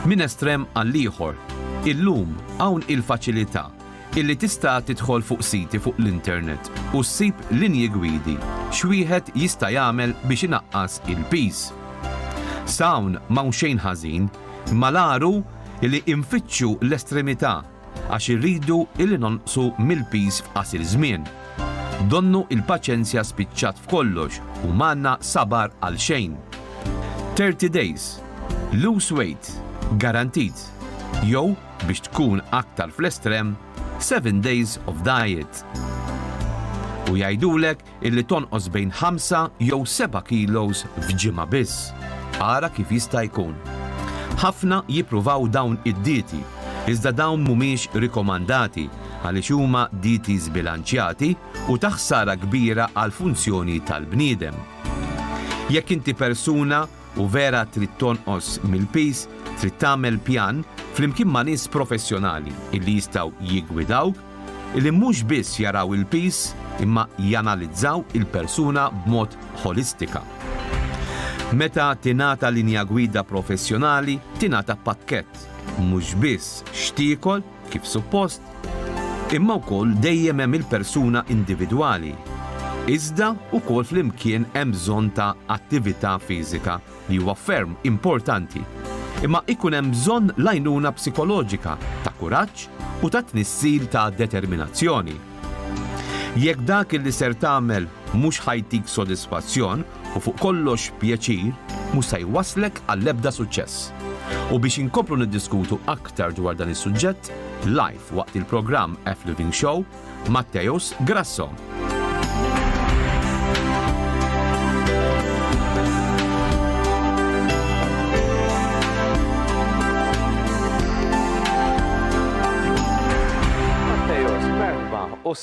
Min estrem għall-ieħor, illum hawn il-faċilità illi tista' tidħol fuq siti fuq l-internet u ssib linji gwidi x'wieħed jista' jagħmel biex inaqqas il-piż. Sawn m'hawn xejn ħażin, malaru li infittxu l-estremità għax irridu illi nonqsu mill-piż f'qasir żmien. Donnu il-paċenzja spiċċat f'kollox u m'għandna sabar għal xejn. Thirty days, lose weight, guaranteed, jew biex tkun aktar fl-estrem, seven days of diet. U jgħidulek illi tonqos bejn ħamsa jew seba' kilos f'ġimgħa biss. Ara kif jista' jkun. Ħafna jippruvaw dawn id-dieti, iżda dawn mhumiex rikomandati għaliex huma dieti żbilanċjati u ta' ħsara kbira għall-funzjoni tal-bniedem. Jekk inti persuna U vera trid tonqos mill-piż, trid tagħmel pjan flimkien ma' nies professjonali illi jistgħu jiggwidawk, illi mhux biss jaraw il-piż imma janalizzaw il-persuna b'mod ħolistika. Meta tingħata linja gwida professjonali, tingħata pakkett, mhux biss x'tiekol, kif suppost, imma wkoll dejjem hemm il-persuna individwali, iżda wkoll flimkien hemm bżonn ta' attività fiżika li huwa ferm importanti, imma ikun hemm bżonn l-għajnuna psikoloġika ta' kuraġġ u ta' tnissil ta' determinazzjoni. Jekk dak li ser tagħmel mhux ħa jtik sodisfazzjon, u fuq kollox pjaċir, mhux se jwasslek għall-ebda suċċess. U biex inkomplu niddiskutu aktar dwar dan is-suġġett, live waqt il-programm F Living Show, Matteus Grasso.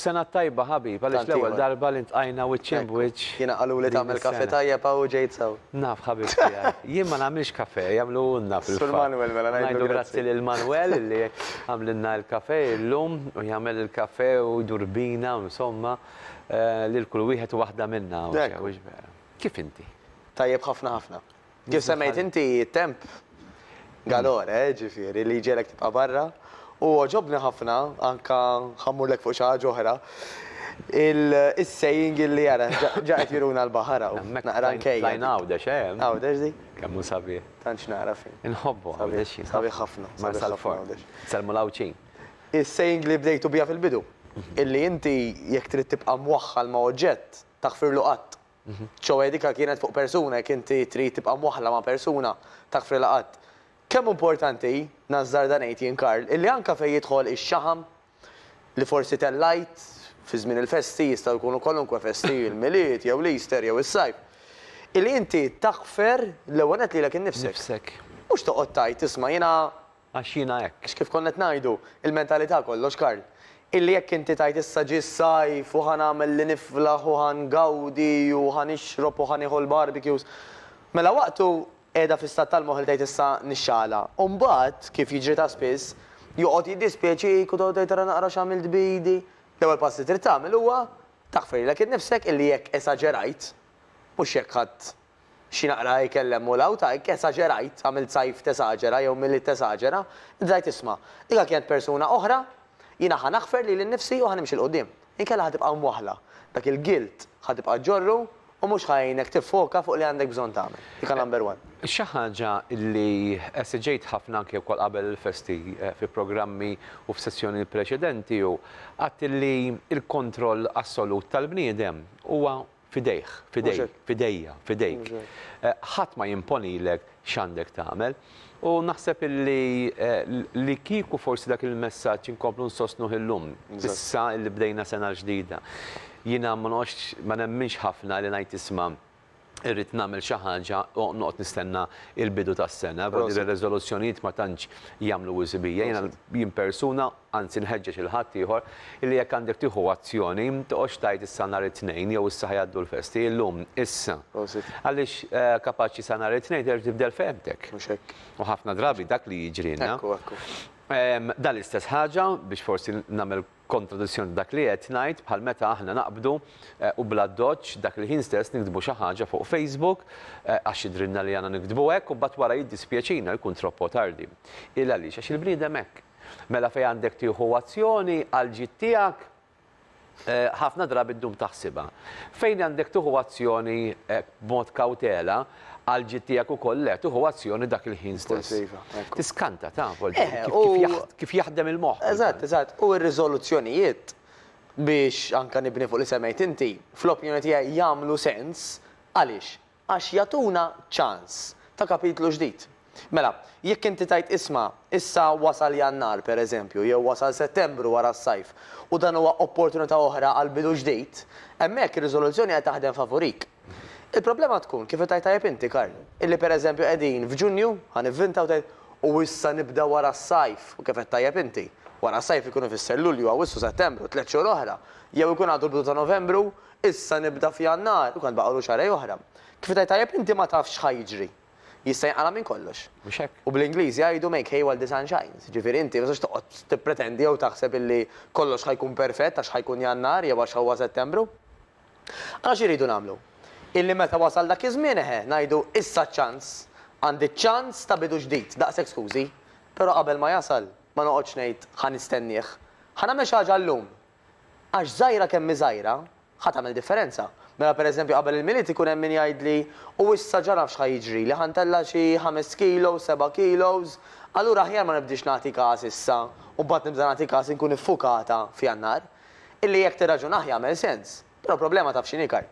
s-sena tajba ħabib, għalix l-ewel darba li ntqajna wiċċin b'wiċċ. Jiena qaluli tagħmel kafè tajjeb hawn u ġejt sew. Naf ħabib tiegħi. Jien ma nagħmilx kafè, jagħmluhulna fil-fatt. Sur Manwel mela ngħidlu grazzi. Ngħidu grazzi lil Manwel li għamlilna l-kafè illum u jagħmel il-kafè u jdur bina u insomma lil kull wieħed u waħda minna. Hekk hu. Kif inti? Tajjeb ħafna ħafna. Kif semmejt inti, it-temp galore, eh, ġifieri, li jġegħlek tibqa' barra. U għoġobni ħafna, anke ħa mmurlek fuq xi ħaġa oħra, is-saying illi ara, ġa qed juruna l-baħar hawn. Hemmhekk naqra nkejjel. Tlajna Għawdex, eh? Għawdex dik? Kemm hu sabiħ. Tant x'nara fih. Inħobbu Għawdex jien. Sabiħ ħafna. Marsalforn. Nsellmu l-Għawdxin. Is-saying li bdejtu biha fil-bidu, illi inti jekk trid tibqa' mwaħħal ma' oġġett, taħfirlu qatt. Ċoe dika kienet fuq persuna jekk inti trid tibqa' mwaħħla ma' persuna, tak fri laqatt. Kemm importanti hi, nażżarda ngħid jien Karl, illi anke fejn jidħol ix-xaħam, li forsi tellajt, fi żmien il-festi, jistgħu jkunu kwalunkwe festi, il-Milied jew l-Easter jew is-Sajf, illi inti taħfer l-ewwel nett lilek innifsek. Mhux toqgħod tgħid, isma' jiena Għax jiena hekk. Għax kif konna qed ngħidu, il-mentalità kollox, Karl. Illi jekk inti tgħid issa ġie s-sajf u ħa nagħmel li niflaħ u ħa ngawdi u ħa nixrob u ħa nieħu l-barbecues, mela waqtu qiegħda fl-istat tal-moħħ li tgħid issa nixxagħalha. U mbagħad, kif jiġri ta' spiss, joqgħod jiddispjaċik u toqgħod tgħid ara naqra x'għamilt b'idi. L-ewwel pass li trid tagħmel huwa taħfrilek innifsek illi jekk esaġerajt, mhux jekk ħadt Xi naqra ikel hemm u 'l hawn, ta' hekk esaġerajt, għamilt sajf tesaġera jew Milied tesaġera, intrajt isma'. Dika kienet persuna oħra, jiena ħa naħfer lili nnifsi u ħa nimxi 'l quddiem. Inkella ħa tibqa' mwaħħla. Dak il-guilt ħa tibqa' ġġorru u mhux ħa jgħinek tiffoka fuq li għandek bżonn tagħmel. Dika number one. Xi ħaġa li esiġejt ħafna anke wkoll qabel il-festi fi programmi u f'sessjoni preċedenti hu, għadt li l-kontroll assolut tal-bniedem huwa f'idejh, f'idejk, f'idejja, f'idejk. Ħadd ma jimponilek x'għandek tagħmel. U naħseb illi li kieku forsi dak il-messaġġ inkomplu nsostnuh illum, issa li bdejna sena ġdida. Jiena ma noqgħodx, ma nemminx ħafna li ngħid isma' irrid nagħmel xi ħaġa u noqgħod nistenna l-bidu tas-sena, riżoluzzjonijiet ma tantx jagħmlu wisq bija, jiena jien persuna, Anzi nħeġġeġ lil ħaddieħor illi jekk għandek tieħu azzjoni, toqgħodx tgħid issa nhar it-Tnejn jew issa ħa jgħaddu l-festi, illum, issa. Għaliex kapaċi sa nhar it-Tnejn terġa' tibdel fehmtek. Mhux hekk. U ħafna drabi dak li jiġrilna. Ekku, ekku. Dan l-istess ħaġa, biex forsi nagħmel kontradizzjoni ta' dak li qed ngħid, bħal meta aħna naqbdu u bl-addoċċ dak il-ħin stess niktbu xi ħaġa fuq Facebook għax jidhrilna li għandna niktbu hekk u mbagħad wara jiddispjaċina li jkun troppo tardi. Il għaliex? Għax il-bniedem hekk. Mela fejn għandek tieħu azzjoni għall-ġid tiegħek, ħafna drabi ddum taħsibha. Fejn għandek tieħu azzjoni b'mod kawtela, għall-ġid tiegħek ukoll le, tieħu azzjoni dak il-ħin stess. Tiskanta taf kif jaħdem il-moħħ. Eżatt, eżatt. U r-riżoluzzjonijiet, biex anke nibni fuq li semmejt inti, fl-opinjoni tiegħi jagħmlu sens għaliex? Għax jagħtuna ċans ta' kapitlu ġdid. Mela, jekk inti tgħid isma', issa wasal Jannar, per eżempju, jew wasal Settembru wara s-sajf, u dan huwa opportunità oħra għal bidu ġdid, hemmhekk ir-riżoluzzjoni qed taħdem favurik. Il-problema tkun, kif qed tgħid tajjeb inti, Karl, illi per eżempju qegħdin f'Ġunju, ħa nivvinta, u tgħid, u issa nibda wara s-sajf, u kif qed tajjeb inti, wara s-sajf ikun ifisser Lulju, Awwissu, Settembru, tliet xhur oħra, jew ikun għadu l-bidu ta' Novembru, Issa nibda f'Jannar u kan baqgħulu xahrejn oħra. Kif qed tgħid tajjeb inti ma tafx x'ħa jiġri. Jista' jinqala' minn kollox. Mhux hekk? U bl-Ingliż jgħidu make hay while the sun shines. Jiġifieri inti ma tistax toqgħod tippretendi jew taħseb illi kollox ħa jkun perfett għax ħa jkun Jannar jew għax huwa Settembru. Allura x'irridu nagħmlu? Illi meta wasal dak iż-żmien eħe, ngħidu issa ċ-ċans. Għandi ċ-ċans ta' bidu ġdid. Daqshekk skużi. Però qabel ma jasal, ma noqgħodx ngħid ħa nistennieh. Ħa nagħmel xi ħaġa llum. Għax żgħira kemm hi żgħira, ħa tagħmel differenza. Mela pereżempju qabel il-Milied ikun hemm min jgħidli, u issa ġa naf x'ħa jiġrili, ħa ntella' xi ħamest kilos, seba' kilos, allura aħjar ma nibdiex nagħti kas issa u mbagħad nibda nagħti kas inkun iffukata f'Jannar. Illi jekk tirraġunah jagħmel sens. Però problema taf x'inhi Karl?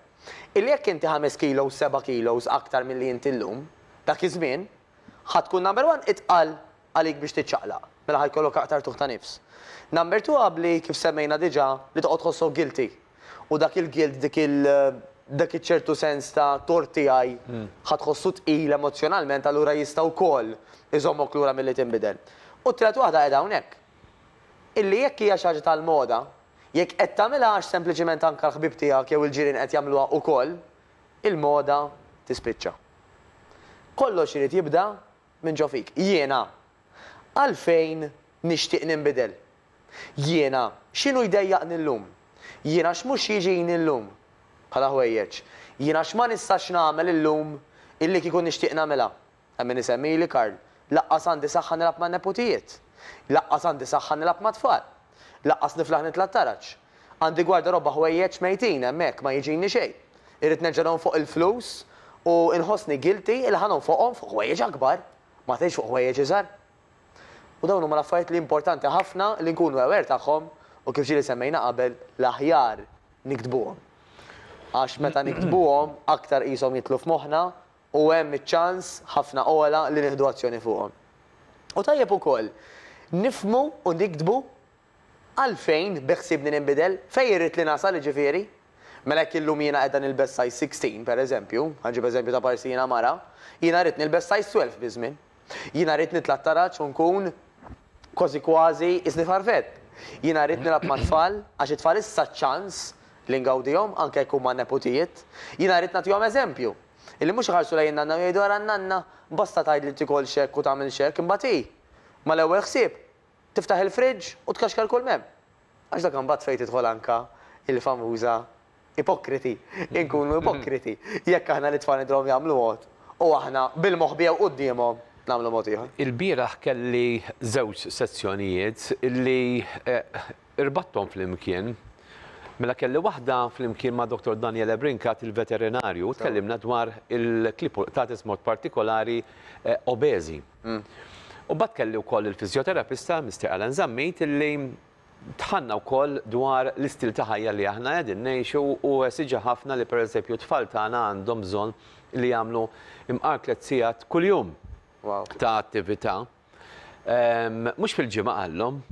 Illi jekk inti ħamest kilos, seba' kilos aktar milli inti llum, dak iż-żmien, ħa tkun number one itqal. għalik biex tiċċaqlaq, mela ħa jkollok aktar tuħ ta' nifs. Number two qabli, kif semmejna diġà, li toqgħod tħossok guilty. U dak il-guilt, dik il, dak iċ-ċertu sens ta' tort tiegħi, ħa tħossu tqil emozzjonalment allura jista' wkoll iżommok lura milli tinbidel. U t-tielet waħda qiegħda hawnhekk. Illi jekk hija xi ħaġa tal-moda, jekk qed tagħmilha għax sempliċiment anke l-ħbieb tiegħek jew il-ġirien qed jagħmluha wkoll, il-moda tispiċċa. Kollox irid jibda Minn ġo fik. Jiena, għalfejn nixtieq ninbidel? Jiena, x'inhu jdejjaqni llum? Jiena x'mhux jiġini llum? Bħala ħwejjeġ. Jiena x'ma nistax nagħmel illum illi kieku nixtieq nagħmilha? Hemm min isemmili, Karl, laqqas għandi saħħa nilgħab man-neputijiet. Laqqas għandi saħħa nilgħab mat-tfal. Lanqas niflaħ nitla' t-taraġ. Għandi gwardarobba ħwejjeġ mejtin hemmhekk ma jiġini xejn. Irrid nerġa' nonfoq il-flus u nħossni guilty li ħa nonfoqhom fuq ħwejjeġ akbar, ma tgħidx fuq ħwejjeġ iżgħar. U dawn huma l-affarijiet li importanti ħafna li nkunu aware tagħhom u kif ġieli semmejna qabel, l-aħjar niktbuhom. Għax meta niktbuhom aktar qishom jidħlu f'moħħna u hemm iċ-ċans ħafna ogħla li nieħdu azzjoni fuqhom. U tajjeb ukoll nifhmu u niktbu għalfejn beħsiebni ninbidel, fejn irrid li nasal jiġifieri. Mela jekk illum jiena qiegħda nilbes size 16, pereżempju, ħa nġib eżempju ta' parsi jiena mara, jiena rrid nilbes size 12 biż-żmien. Jiena rrid nitla' t-taraġ u nkun kważi kważi qisni farfett. Jiena rrid nilgħab mat-tfal, għax it-tfal issa ċ-ċans li ngawdihom anke jekk huma neputijiet. Jiena rrid nagħtihom eżempju. Illi mhux iħarsu lejn in-nanna u jgħidu ara n-nanna, basta tgħid li tikolx hekk u tagħmilx hekk, imbagħad hi, mal-ewwel ħsieb, tiftaħ il-friġġ u tkaxkar kull m'hemm. Għax dak imbagħad fejn tidħol anke il-famuża ipokriti, inkunu ipokriti jekk aħna lit-tfal nidhruhom jagħmlu mod u aħna bil-moħbi jew quddiemhom nagħmlu mod ieħor. Il-bieraħ kelli żewġ sezzjonijiet li Irbatthom flimkien. Mela kelli waħda flimkien ma' Dottor Daniele Brincat, il-veterinarju, u tkellimna dwar il-klipultatis b'mod partikolari obeżi. U mbagħad kelli wkoll il-fiżjoterapista, Mister Alan Zammit, illi dħalna wkoll dwar l-istil ta' ħajja li aħna qegħdin ngħixu u esiġa ħafna li pereżempju t-tfal tagħna għandhom bżonn li jagħmlu mqar tliet sigħat kuljum ta' attività. Mhux fil-ġimgħa qalhom,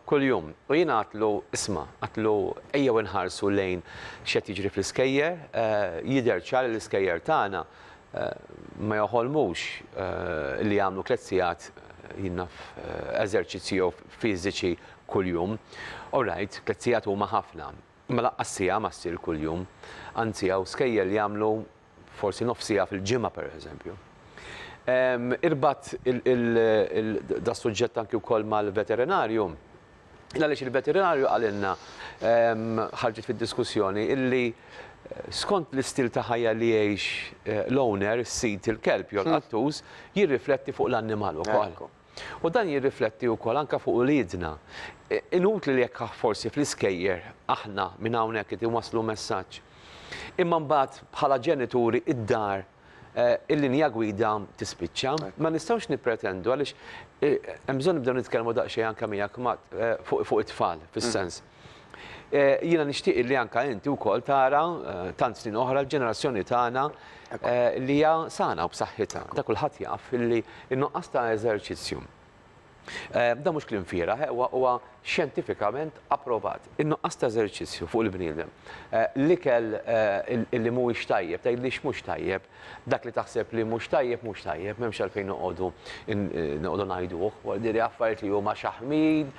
kuljum. U jiena għatlu, isma', għatlu ejjew inħarsu lejn x'qed jiġri fl-iskejjer, jidher ċar li l-iskejjer tagħna ma joħolmux li jagħmlu tliet sigħat jinnaf eżerċizzji jew fiżiċi kuljum. Orajt, tliet sigħat huma ħafna, imma laqqas siegħa ma ssir kuljum. Anzi hawn skejjel jagħmlu forsi nofs siegħa fil-ġimgħa pereżempju. Irbatt das-suġġett anki wkoll mal-veterinarju, għaliex il-veterinarju qalilna ħarġet fid-diskussjoni illi skont l-istil ta' ħajja li jgħix l-owner, is-sid, il-kelb jew il-qattus, jirrifletti fuq l-annimal ukoll. U dan jirrifletti wkoll anke fuq uliedna. Inutli li jekk forsi fl-iskejjer aħna minn hawnhekk qed inwasslu messaġġ, imma mbagħad bħala ġenituri d-dar il-linja gwida tispiċċa. Ma nistgħux nippretendu għaliex hemm bżonn nibdew nitkellmu daqsxejn anke miegħek fuq it-tfal fis-sens. Jiena nixtieq illi anke inti wkoll tara tant snin oħra l-ġenerazzjoni tagħna li hija sana u b'saħħitha. Dak kulħadd jaf illi n-nuqqas ta' eżerċizzju dan mhux kliem fieragħ, huwa xjentifikament approvat. In-nuqqas ta' eżerċizzju fuq il-bniedem, l-ikel illi mhuwiex tajjeb, tgħidlix mhux tajjeb, Dak li taħseb li mhux tajjeb mhux tajjeb, m'hemmx għalfejn noqogħdu noqogħdu ngħiduh. Wara diri affarijiet li huma xaħmid,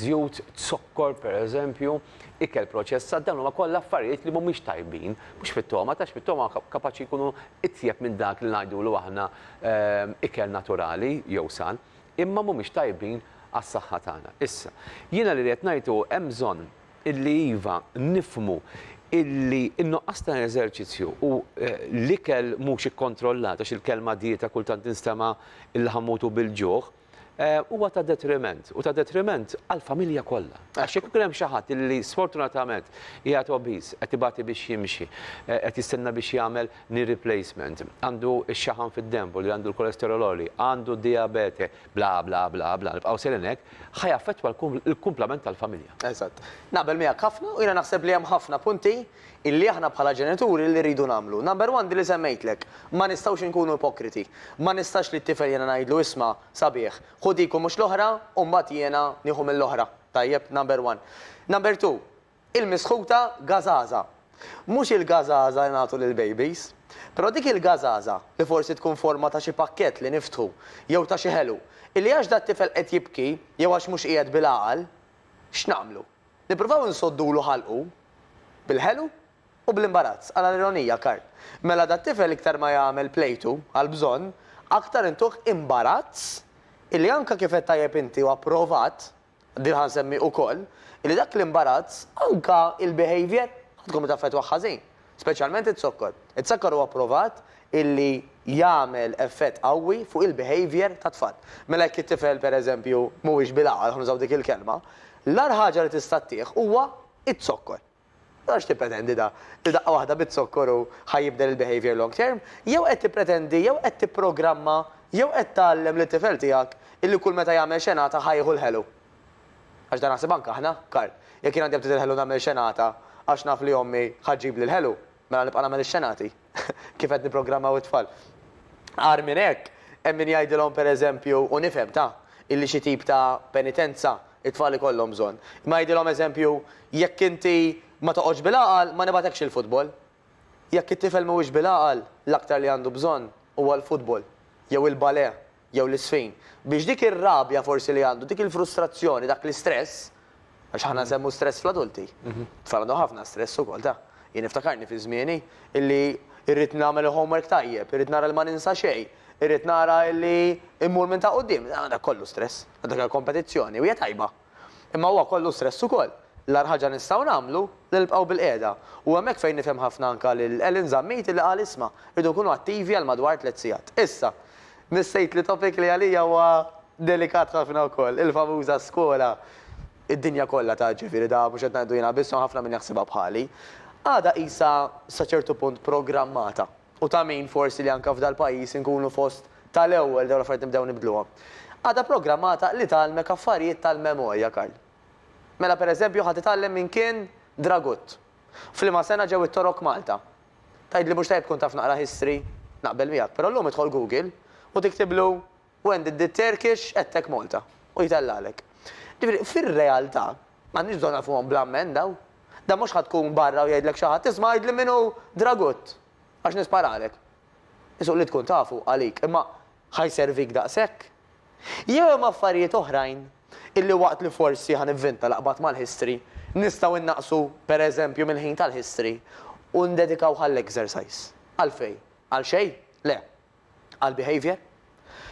żjut, zokkor pereżempju, ikel proċessat, dawn huma kollha affarijiet li mhumiex tajbin. Mhux fit-togħma, għax fit-togħma kapaċi jkunu itjeb minn dak li ngħidulu aħna ikel naturali jew san, imma mhumiex tajbin għas-saħħa tagħna. Issa, jiena li ridt ngħid hu hemm bżonn illi iva, nifhmu illi n-nuqqas ta' eżerċizzju u l-ikel mhux ikkontrollat, għax il-kelma dieta kultant tinstema' illi ħa mmutu bil-ġuħ, huwa ta' detriment, u ta' detriment għall-familja kollha. Għax jekk ikun hemm xi ħadd illi sfortunatament qiegħed obese, qed ibati biex jimxi, qed jistenna biex jagħmel knee replacement, għandu x-xaħam fid-denbu li għandu l-kolesterol għoli, għandu d-dijabete, bla bla bla bla, nibqgħu sejrin hekk, ħa jaffettwa l-kumplament tal-familja. Eżatt. Naqbel miegħek ħafna u jiena naħseb li hemm ħafna punti illi aħna bħala ġenituri li rridu nagħmlu. Number one din li semmejtlek, ma nistgħux inkunu ipokriti. Ma nistax li t-tifel jiena ngħidlu isma' sabiħ, ħu dik u mhux l-oħra u mbagħad jiena nieħu mill-oħra. Tajjeb, number one. Number two, Il-misħuta gażaża. Mhux il-gażaża li nagħtu lill-bejbis. Però dik il-gażaża, li forsi tkun forma ta' xi pakkett li niftħu, jew ta' xi ħelu, illi għax dat-tifel qed jibki, jew għax mhux qiegħed bil-għaqal, x'nagħmlu? Nippruvaw insoddulu ħalqu? Bil-ħelu? U bl-imbarazz, ara l-ironija, Karl. Mela dat-tifel iktar ma jagħmel plejtu, għall-bżonn, aktar intuh imbarazz illi anke kif għedt tajjeb inti u approvat, Din ħa nsemmi ukoll li dak l-imbarazz anke il-behaviour ħa tkun taffettwah ħażin, speċjalment iz-zokkor. Iz-zakkor huwa pprovat illi jagħmel effett qawwi fuq il-behaviour tat-tfal. Mela jekk it-tifel pereżempju mhuwiex bil-għaqal, ħa nużaw dik il-kelma, l-agħar ħaġa li tista' ttieh huwa iz-zokkor. Għax tippretendi da? Li daqqa waħda biz-zokkor hu ħa jibdel il-behaviour long term? Jew qed tippretendi jew qed tipprogramma jew qed tgħallem lit-tifel tiegħek illi kull meta jagħmel xenata ħa jieħu l-ħelu? Għax dan naħseb anke aħna, Karl. Jekk jien għandi aptit il-ħelu nagħmel xenata għax naf li ommi ħa ġġibli l-ħelu. Mela nibqa' nagħmel ix-xenati? Kif qed nipprogrammaw it-tfal? Agħar minn hekk, hemm min jgħidilhom, per eżempju, u nifhem, ta, illi xi tip ta' penitenza t-tfal ikollhom bżonn. Imma jgħidilhom, eżempju, jekk inti ma toqgħodx bil-għaqal, ma nibagħtekx il-futbol. Jekk it-tifel mhuwiex bil-għaqal, l-aktar li għandu bżonn huwa l-futbol, jew il-balè, jew l-isfin, biex dik ir-rabja forsi li għandu, dik il-frustrazzjoni, dak l-istress, għax aħna nsemmu stress fl-adulti, it-tfal għandhom ħafna stress ukoll, ta. Jien niftakarni fi żmieni illi rrid nagħmel il-homework tajjeb, irrid nara li ma ninsa xejn, irrid nara illi mmur minn ta' quddiem, dak kollu stress, dak hija kompetizzjoni u hija tajba. Imma huwa kollu stress ukoll. L-agħar ħaġa nistgħu nagħmlu li nibqgħu bil-qiegħda. U hemmhekk fejn nifhem ħafna anke lil Ellen Zammiti li qal isma', irridu nkunu attivi għal madwar tliet sigħat. Issa, missejt li topic li għalija huwa delikat ħafna wkoll, il-famuża skola. Id-dinja kollha taf, ġifieri da mhux qed ngħidu jiena biss, hemm ħafna min jaħsibha bħali. Għadha qisha sa ċertu punt programmata. u ta' min forsi li anke f'dal-pajjiż inkunu fost ta' l-ewwel li dawn l-affarijiet nibdew nibdluhom. Għadha programmata li tgħallmek affarijiet tal-memorja, Karl. Mela per eżempju ħa titgħallem min kien Dragut. F'liema sena ġew it-Torok Malta. Tgħidli mhux tajjeb tkun taf naqra history? Naqbel miegħek, però llum idħol Google u tiktiblu When did the Turkish attack Malta? U jtellgħalek. Ġifieri, fir-realtà, m'għandniex bżonn nagħrfuhom bla mmenn dawn. Dan mhux ħa tkun barra u jgħidlek xi ħadd, isma' għidli min hu Dragut, għax nisparalek. Isuq li tkun tafu għalik, imma ħa jservik daqshekk? Jew hemm affarijiet oħrajn illi waqt li forsi ħa nivvinta l-aqbad mal-history, nistgħu nnaqqsu, per eżempju, mill-ħin tal-history u ndedikawh għall-exercise? Għalfejn? Għal xejn? Le. għall-behaviour,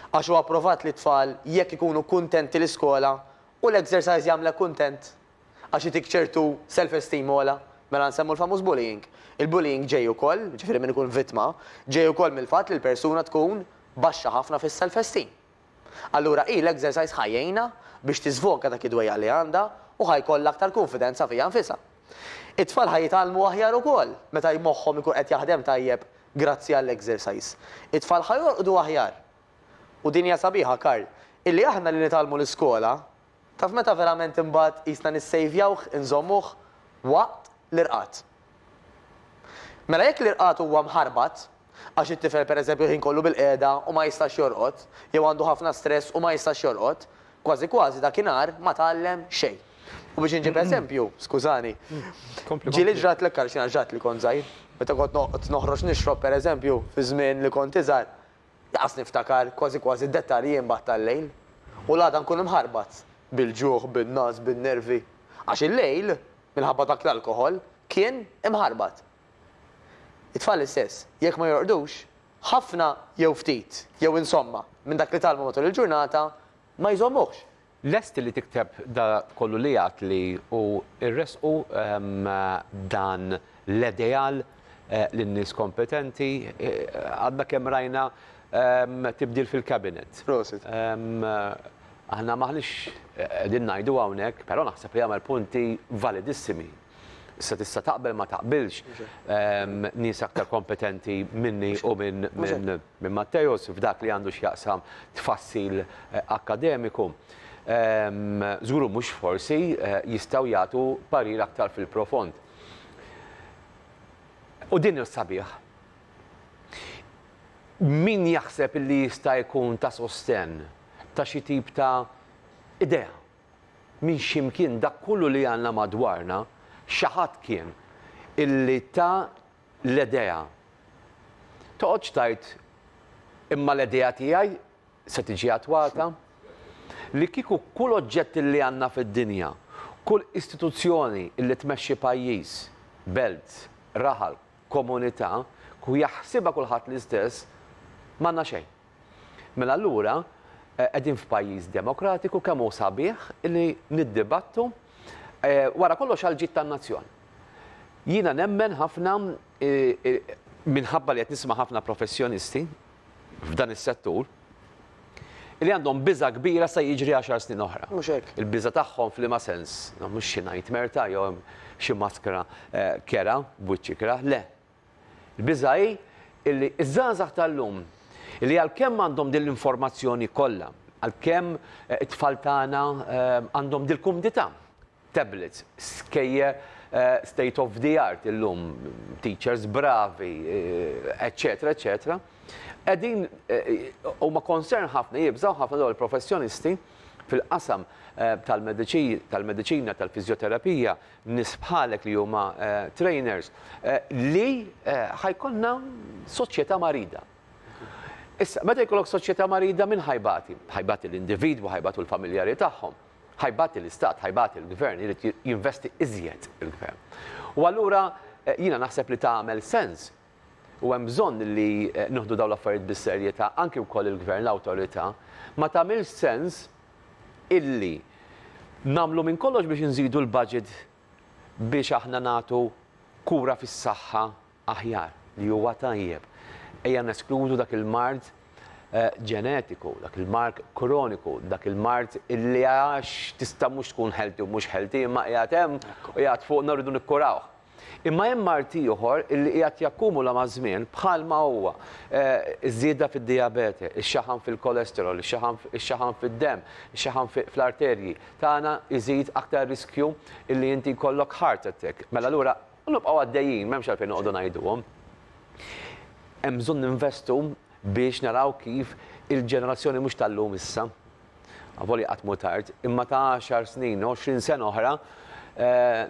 għax huwa pprovat li t-tfal jekk ikunu kuntenti l-iskola u l-exercise jagħmlek kuntent għax itik ċertu self-esteem ogħla, mela nsemmu l-famuż bullying. Il-bullying ġej ukoll, ġifieri min ikun vittma, ġej ukoll mill-fatt li l-persuna tkun baxxa ħafna fis-self-esteem. Allura hi l-exercise ħa jgħinha biex tiżvoga dak id-dwejjaq li għandha u ħa jkollha aktar kunfidenza fija nfisha. It-tfal ħa jitgħallmu aħjar ukoll meta moħħhom ikun qed jaħdem tajjeb grazzi għall-exercise. It-tfal ħa jorqdu aħjar. U din hija sabiħa, Karl, illi aħna li nitgħallmu l-iskola, taf meta verament imbagħad qisna nissejvjawh, inżommuh, waqt l-irqad. Mela jekk l-irqad huwa mħarbat, Għax it-tifel pereżempju l-ħin kollu bilqiegħda u ma jistax jorqod, jew għandu ħafna stress u ma jistax jorqod, kważi kważi dakinhar ma tgħallem xejn. U biex inġib eżempju, skużani, ġieli ġratlek għaliex jiena ġrat li kont żgħir. Meta kont noqgħod noħroġ nixrob pereżempju, fiż-żmien li kont iżgħar, lanqas niftakar kważi kważi d-dettalji imbagħad tal-lejl. U l-għada nkun imħarbat bil-ġuħ, bin-ngħas, bin-nervi. Għax il-lejl, minħabba dak l-alkoħol, kien imħarbat. It-tfal l-istess, jekk ma jorqdux, ħafna jew ftit, jew insomma, minn dak li tgħallmu matul il-ġurnata, ma jżommuhx. Lest li tikteb da kollu li għadt li u irressqu dan l-edeal lin-nies kompetenti? Għadna kemm rajna tibdil fil-Cabinet. Prosit. Aħna m'aħniex qegħdin ngħidu hawnhekk, però naħseb li għamel punti validissimi. Issa tista' taqbel ma taqbilx, nies aktar kompetenti minni u minn Matteus f'dak li għandu x'jaqsam tfassil akkademiku, żgur u mhux forsi, jistgħu jagħtu parir aktar fil-profond. U din hi sabiħ. Min jaħseb li jista' jkun ta' sostenn ta' xi tip ta' idea Minn xi mkien dak kollu li għandna madwarna, xi ħadd kien illi ta l-edea. Toqgħodx tgħid, imma l-edea tiegħi se tiġi attwata? Li kieku kull oġġett illi għandna fid-dinja, kull istituzzjoni illi tmexxi pajjiż, belt, raħal, komunità, kieku jaħsibha kulħadd l-istess, m'għandna xejn. Mela allura qegħdin f'pajjiż demokratiku kemm hu sabiħ li niddibattu wara kollox għal ġid tan-nazzjon. Jiena nemmen ħafna minħabba li qed nisma' ħafna professjonisti f'dan is-settur li għandhom biża' kbira sa jiġri għaxar snin oħra. Mhux hekk. Il-biża' tagħhom f'liema sens? Mhux xi nightmare ta' jew xi maskra kerha b'wiċċ ikrah, le. Il-biża' hi li ż-żgħażagħ tal-lum, li għalkemm għandhom din l-informazzjoni kollha, għalkemm it-tfal tagħna għandhom dil-kumdità, tablets, skejjel state of the art illum, teachers bravi, eċċetera, eċċetera, qegħdin huma concerned ħafna, jibżgħu ħafna dawn il-professjonisti fil-qasam tal-mediċina, tal-fiżjoterapija, nies bħalek li huma trainers, li ħa jkollna soċjetà marida. Issa, meta jkollok soċjetà marida min ħajbati? Ħajbati l-individwu, ħajbatu l-familjari tagħhom, ħajbati l-istat, ħajbati l-gvern, irid jinvesti iżjed il-gvern. U allura jiena naħseb li tagħmel sens u hemm bżonn li nieħdu dawn l-affarijiet bis-serjetà, anki wkoll il-Gvern, l-Awtorità, ma tagħmilx sens illi nagħmlu minn kollox biex inżidu l-budget biex aħna nagħtu kura fis-saħħa aħjar, li huwa tajjeb. Ejja neskludu dak il-mard ġenetiku, dak il-mark kroniku, dak il-mard illi għax tista' mhux tkun healthy u mhux healthy imma qiegħed hemm u qiegħed fuqna u rridu nikkurawh. Imma hemm mard ieħor li qiegħed jakkumula maż-żmien bħalma huwa ż-żieda fid-dijabete, ix-xaħam fil-kolesterol, ix-xaħam fid-demm, ix-xaħam fl-arterji tagħna jżid aktar riskju li inti jkollok heart attack. Mela allura u nibqgħu għaddejjin, m'hemmx għalfejn noqogħdu ngħiduhom. Hemm bżonn ninvestu biex naraw kif il-ġenerazzjoni mhux tal-lum issa, avolja qatt mhu tard, imma ta' għaxar snin, għoxrin sena oħra,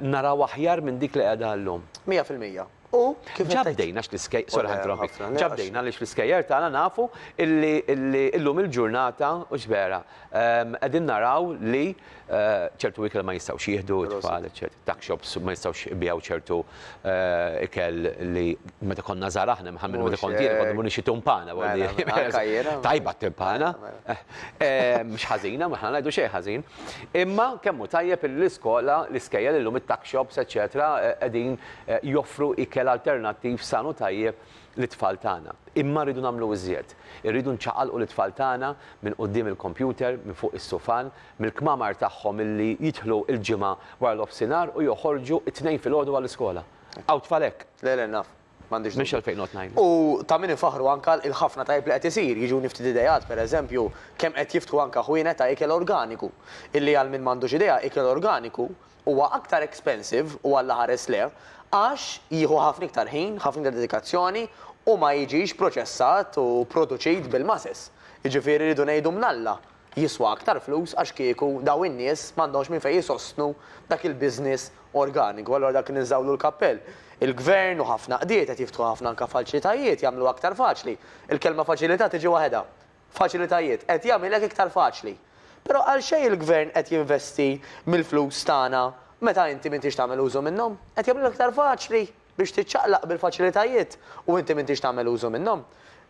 naraw aħjar minn dik li qiegħda llum. Mija fil-mija. U kif ġa bdejna x'l-iskej, sorry ħa ninterrompik, ġa bdejna għaliex l-iskejjer tagħna nafu illi illum il-ġurnata, hux vera, qegħdin naraw li ċertu ikel ma jistgħux jieħdu t-tfal, eċċetera. Tuck shops ma jistgħux ibigħu ċertu ikel li meta konna żgħar aħna, imma ħalmenu meta kont jien konna mmur nixtri tumpana. Tajba t-timpana. Mhux ħażina, aħna ma ngħidu xejn ħażin. Imma kemm hu tajjeb illi l-iskola, l-iskejjel illum it-tuck shops eċċetera qegħdin joffru ikel alternattiv san u tajjeb lit-tfal tagħna. Imma rridu nagħmlu iżjed. Irridu nċaqalqu lit-tfal tagħna minn quddiem il-kompjuter, minn fuq is-sufan, mill-kmamar tagħhom illi jidħlu l-Ġimgħa wara nofsinhar u joħorġu t-Tnejn filgħodu għall-iskola. Hawn tfal hekk. Le, le, naf. M'għandix dubju. Mhix għalfejn noqgħod ngħidlek. U ta' min infaħħru anke għal il-ħafna tajjeb li qed isir. Jiġuni ftit ideat, per eżempju, kemm qed jiftħu anke ħwienet ta' ikel organiku. Illi għal min m'għandux idea, ikel organiku huwa aktar expensive, u Alla ħares lejh, għax jieħu ħafna iktar ħin, ħafna iktar dedikazzjoni u ma jiġix proċessat u produċit bil-masses. Jiġifieri rridu ngħidu mnalla jiswa aktar flus għax kieku dawn in-nies m'għandhomx minn fejn isostnu dak il-business organiku. Allura dak li ninżawlu l-kappell. Il-Gvern u ħafna qdiet qed jiftħu ħafna anke faċlitajiet, jagħmlu aktar faċli. Il-kelma faċilità tiġi waħedha. Faċilitajiet, qed jagħmilek iktar faċli. Però għalxejn il-Gvern qed jinvesti mill-flus tagħna meta inti m'intix tagħmel użu minnhom? Qed jagħmlilek iktar faċli? biex tiċċaqlaq bil-faċilitajiet u inti m'intix tagħmel użu minnhom.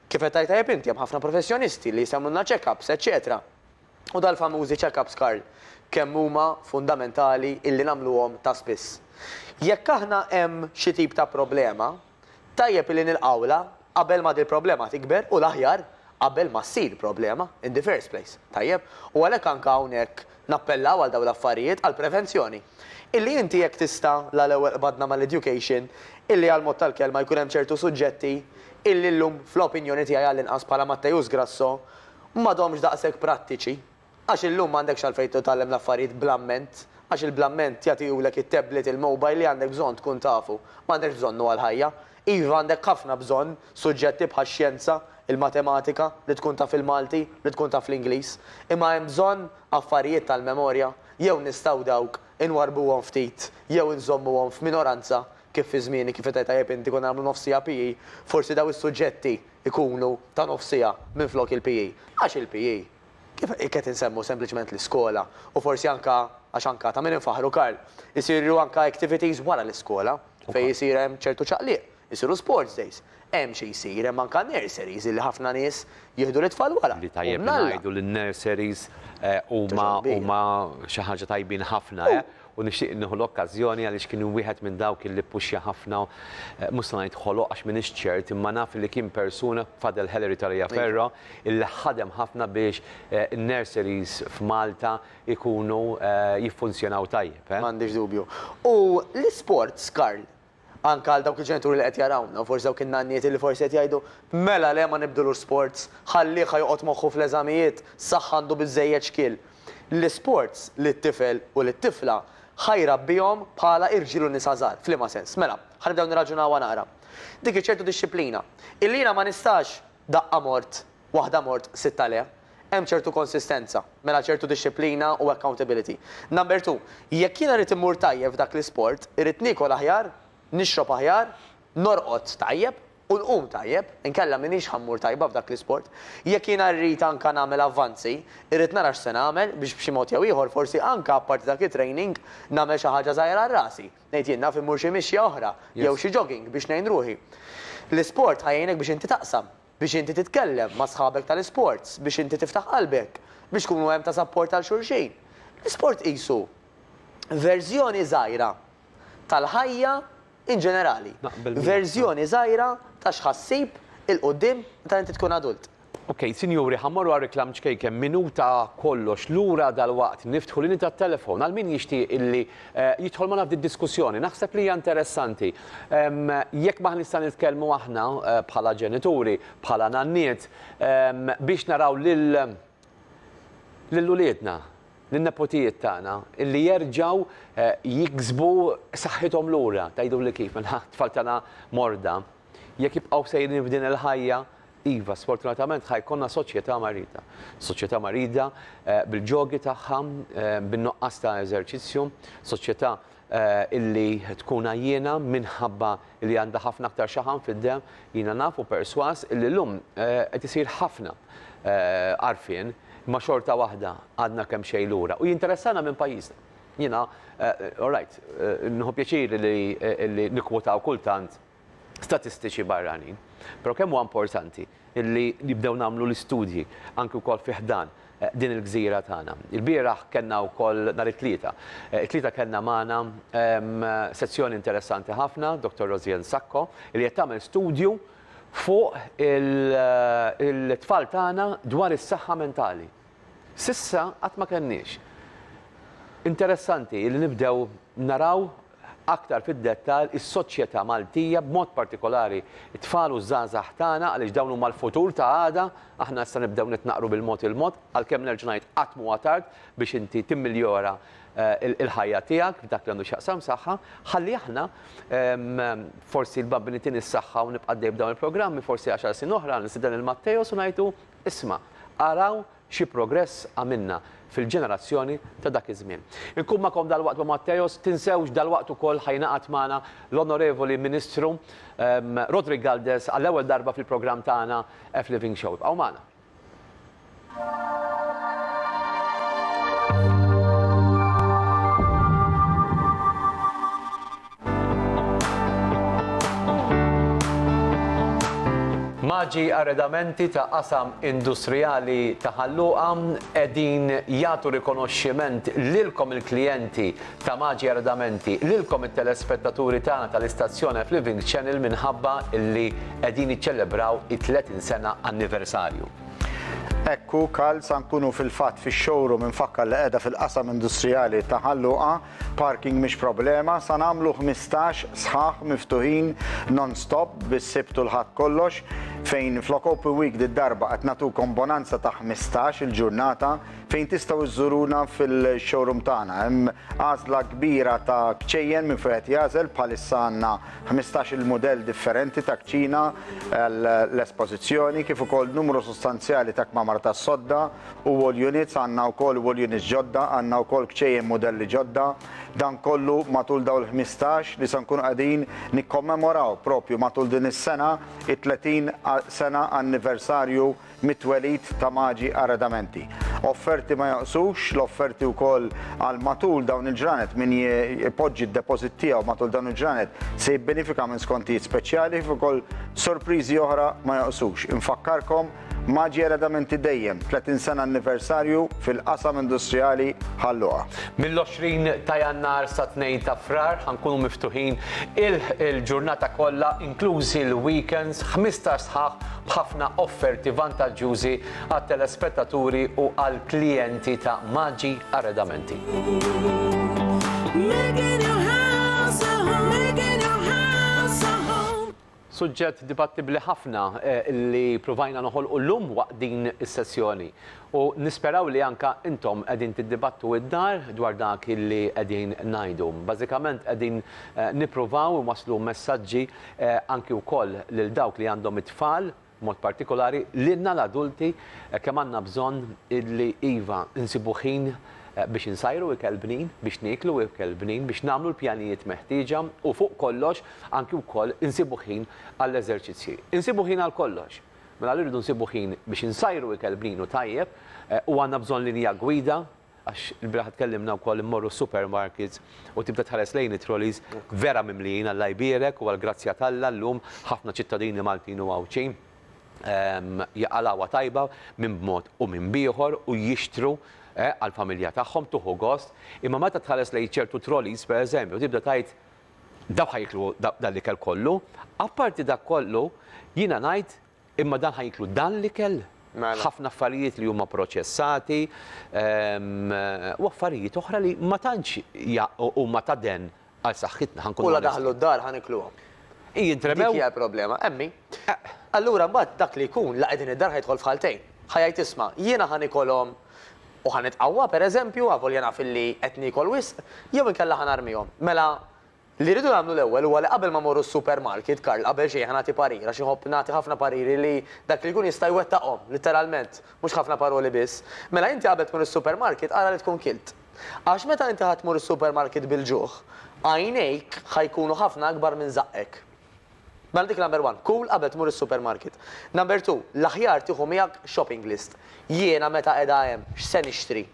Kif qed tgħid tajjeb inti, hemm ħafna professjonisti li jagħmlulna check-ups, eċċetera. U dal-famużi check-ups, Karl, kemm huma fundamentali illi nagħmluhom ta' spiss. Jekk aħna hemm xi tip ta' problema, tajjeb illi nilqgħulha Qabel ma dil-problema tikber u l-aħjar qabel ma ssir problema in the first place, tajjeb? U għalhekk anke hawnhekk nappellaw għal dawn l-affarijiet, għall-prevenzjoni. Illi inti jekk tista' la l-ewwel qbadna mal-education, illi għall-mod tal-kelma jkun hemm ċertu suġġetti illi llum fl-opinjoni tiegħi għallinqas bħala Matteus Grasso m'għadhomx daqshekk prattiċi, Għax illum m'għandekx għalfejn titgħallem l-affarijiet bl-amment, għax il-bl-amment jagħtihulek it-tablet, il-mobile li għandek bżonn tkun tafu. M'għandekx bżonnu għall-ħajja. Iva għandek ħafna bżonn suġġetti bħax-xjenza, il-matematika, li tkun taf il-Malti, li tkun taf l-Ingliż. Imma hemm bżonn affarijiet tal-memorja, jew nistgħu dawk inwarrbuhom ftit jew inżommuhom f'minoranza kif fi żmieni, kif qed tgħid tajjeb inti, konna nagħmlu nofs siegħa PE, forsi dawn is-suġġetti jkunu ta' nofs siegħa minflok il-PE. Għax il-PE Kif qed insemmu sempliċement l-iskola u forsi anke, għax anke ta' min infaħħru Karl, isiru anke activities wara l-iskola fejn isir hemm ċertu ċaqliq, isiru sports days, hemm xi jsir, hemm anke nurseries illi ħafna nies jieħdu lit-tfal wara, u bn'Alla. Li tajjeb li ngħidu li n-nurseries huma xi ħaġa tajbin ħafna, eh? u nixtieq nieħu l-okkażjoni għaliex kien wieħed minn dawk illi ppuxxja ħafna, mhux se ngħid ħoloq għax m'iniex ċert, imma naf illi kien persuna, Fadel Helery ta' Ria Perro, illi ħadem ħafna biex in-nurseries f'Malta jkunu jiffunzjonaw tajjeb. M'għandix dubju. U l-isports, Karl, Anke għal dawk il-ġenituri li qed jarawna u forsi dawk in-nanniet li forsi qed jgħidu, Mela le ma nibdilux sports, ħallih ħa joqgħod moħħu fl-eżamijiet, saħħ għandu biżżejjed xkiel. L-isports lit-tifel u lit-tifla ħa jrabbihom bħala irġiel u nisa żgħar. F'liema sens? Mela, ħa nibdew nirraġunawha naqra. Dik iċ-ċertu dixxiplina, illi jiena ma nistax, Daqqa mort, waħda mort, sitta le. Hemm ċertu konsistenza, mela ċertu dixxiplina u accountability. Number two, jekk jiena rrid immur tajjeb f'dak l-isport, irrid niekol aħjar, nixrob aħjar, norqod tajjeb u nqum tajjeb, inkella m'iniex ħa mmur tajba f'dak l-isport. Jekk jiena rrid anka nagħmel avvanzi, irrid nara x'se nagħmel biex b'xi mod jew ieħor forsi anka apparti dak it-training nagħmel xi ħaġa żgħira għal rasi. Ngħid jien, naf immur xi mixja oħra jew xi jogging biex ngħin ruħi. L-isport ħa jgħinek biex inti taqsam, biex inti titkellem ma' sħabek tal-isports, biex inti tiftaħ qalbek, biex tkunu hemm ta' sapport għal xulxin. L-isport qisu verżjoni żgħira tal-ħajja in ġenerali. Verżjoni żgħira ta' x'ħa ssib 'il quddiem meta inti tkun adult. Ok sinjuri ħa mmorru għar-reklam ċkejken minuta kollox lura dalwaqt niftħu l-linji tat-telefon għal min jixtieq illi jidħol magħna f'din diskussjoni naħseb li hija interessanti jekk m'aħniex nista' nitkellmu aħna bħala ġenituri bħala nanniet biex naraw lil lil uliedna lin-nepotijiet tagħna illi jerġgħu jiksbu saħħithom lura tgħiduli kif mela t-tfal tagħna morda. Jekk jibqgħu sejrin f'din il-ħajja, iva, sfortunatament ħa jkollna soċjetà marida. Soċjetà marida bil-ġogi tagħha, bin-nuqqas ta' eżerċizzju, soċjetà illi tkun għajjiena minħabba li għandha ħafna aktar xaħam fid-demm. Jiena naf u persważ illi llum qed isir ħafna għarfien, imma xorta waħda għadna kemmxejn lura. U jinteressana minn pajjiżna. Jiena, all right, nieħu pjaċir li nikkwotaw kultant, statistiċi barranin. Però kemm huwa importanti li nibdew nagħmlu l-istudji anki wkoll fi ħdan din il-gżira tagħna. Il-bieraħ kellna wkoll nhar it-Tlieta. It-Tlieta kellna magħna sezzjoni interessanti ħafna, Dottor Rosianne Sacco, li qed tagħmel studju fuq il-tfal tagħna dwar is-saħħa mentali. S'issa qatt ma kellniex. Interessanti li nibdew naraw aktar fid-dettall is-soċjetà Maltija, b'mod partikolari t-tfal u ż-żgħażagħ tagħna għaliex dawn huma l-futur ta' għada, aħna issa nibdew nitnaqqru bil-mod il-mod, għalkemm nerġa' ngħid qatt m'huwa tard biex inti timmiljora l-ħajja tiegħek f'dak li għandu x'jaqsam saħħa, ħalli aħna forsi l-Bambini Tini s-Saħħa u nibqa' għaddej b'dawn il-programmi forsi għaxar snin oħra nistieden lil Matteos u ngħidlu isma' araw Xi progress għamilna fil-ġenerazzjoni ta' dak iż-żmien. Inkun magħkom dalwaqt ma' Matheos, tinsewx dalwaqt ukoll ħa jingħaqad magħna l-Onorevoli Ministru Roderick Galdes għall-ewwel darba fil-programm tagħna F-Living Show. Ibqgħu magħna. Maġi arredamenti ta' qasam industrijali ta' Ħal Luqa qegħdin jagħtu rikonoxximent lilkom il-klijenti ta' Maġi Arredamenti, lilkom it-telespettaturi tagħna tal-istazzjon f'Living Channel minħabba li qegħdin jiċċelebraw it-30 sena anniversarju. Hekk hu, Karl, sa nkunu fil-fatt fix-showroom imfakkar li qiegħda fil-qasam industrijali ta' Ħal Luqa. Parking mhix problema, sa nagħmlu ħmistax sħaħ miftuħin non-stop bis-Sibt u l-Ħadd kollox, fejn flok Open Week did-darba qed nagħtukom bonanza ta' ħmistax il ġurnata fejn tistgħu żżuruna fil-showroom tagħna. Hemm għażla kbira ta' kċejjen minn fejn qed jagħżel, bħalissa għandna ħmistax il mudell differenti ta' kċina għall-espożizzjoni kif ukoll numru sostanzjali ta' kmamar tas-sodda, u wall units, għandna wkoll wall units ġodda, għandna wkoll kċejjen mudelli ġodda. Dan kollu matul dawn il-ħmistax li se nkunu qegħdin nikkommemoraw propju matul din is-sena it-30 sena anniversarju mit-twelid ta' Maġi Arredamenti. Offerti ma jonqsux, l-offerti wkoll għal matul dawn il-ġranet min jpoġġi d-deposit tiegħu matul dawn il-ġranet se jibbenifika minn skontijiet speċjali kif ukoll sorpriżi oħra ma jonqsux. Infakkarkom Maggi eredamenti dejjem 30 sena anniversarju fil-qasam industrijali Ħal Luqa. Mill-20 ta' Jannar sa 2 ta' Frar ħa nkunu miftuħin il-ġurnata kollha inklużi l-weekends, 15 sħaħ b'ħafna offerti vantaġġjużi għat-telespettaturi u għall-klijenti ta' Maggi Arredamenti. Suġġett dibattibbli ħafna li pruvajna noħolqu llum waqt din is-sessjoni u nisperaw li anke intom qegħdin tiddibattu id-dar dwar dak li qegħdin ngħidu. Bażikament qegħdin nippruvaw inwasslu messaġġi anki wkoll lil dawk li għandhom it-tfal, b'mod partikolari, lilna l-adulti kemm għandna bżonn illi, iva, insibu ħin biex insajru ikel bnin, biex nieklu ikel bnin, biex nagħmlu l-pjanijiet meħtieġa u, fuq kollox, anki wkoll insibu ħin għall-eżerċizzji. Insibu ħin għal kollox! Mela rridu nsibu ħin biex insajru ikel bnin u tajjeb u għandna bżonn linja gwida Għax il-bieraħ tkellimna wkoll immorru s-supermarkets u tibda tħares lejn it-trolleys vera mimlijin, Alla jbierek u għall-grazzja t'Alla llum ħafna ċittadini Maltin u Għawdxin jaqalgħuha tajba minn b'mod u minn b'ieħor u jixtru għall-familja tagħhom, tieħu gost, imma meta tħares lejn ċertu trolleys pereżempju tibda tgħid dawk ħa jieklu dan l-ikel kollu? Apparti dak kollu jiena ngħid Imma dan ħa jinklu dan l-ikel, ħafna affarijiet li huma proċessati u affarijiet oħra li ma tantx huma ta' den għal saħħitna, ħa nkunu onesti. U la daħlu d-dar ħa nikluhom. Hi jintremew. Dik hija l-problema, emmi. Allura mbagħad dak li jkun la qegħdin id-dar ħa jidħol f'ħaltejn. Ħa jgħid isma', jiena ħa nikolhom u ħa nitqawwa, pereżempju, avolja naf illi qed niekol wisq, jew inkella ħa narmihom. Mela Li rridu nagħmlu l-ewwel huwa li qabel ma mmorru s-supermarket, Karl, qabel xejn ħa nagħti parir, għax iħobb nagħti ħafna pariri li dak li jkun jista' jwettaqhom, litteralment, mhux ħafna paroli biss. Mela inti qabel tmur is-supermarket ara li tkun kilt. Għax meta inti ħa tmur is-supermarket bil-ġuħ, għajnejk ħa jkunu ħafna akbar minn żaqqek. Mela dik number one, kul qabel tmur is-supermarket. Number two, l-aħjar tieħu miegħek shopping list. Jiena meta qiegħda hemm, x'se nixtri?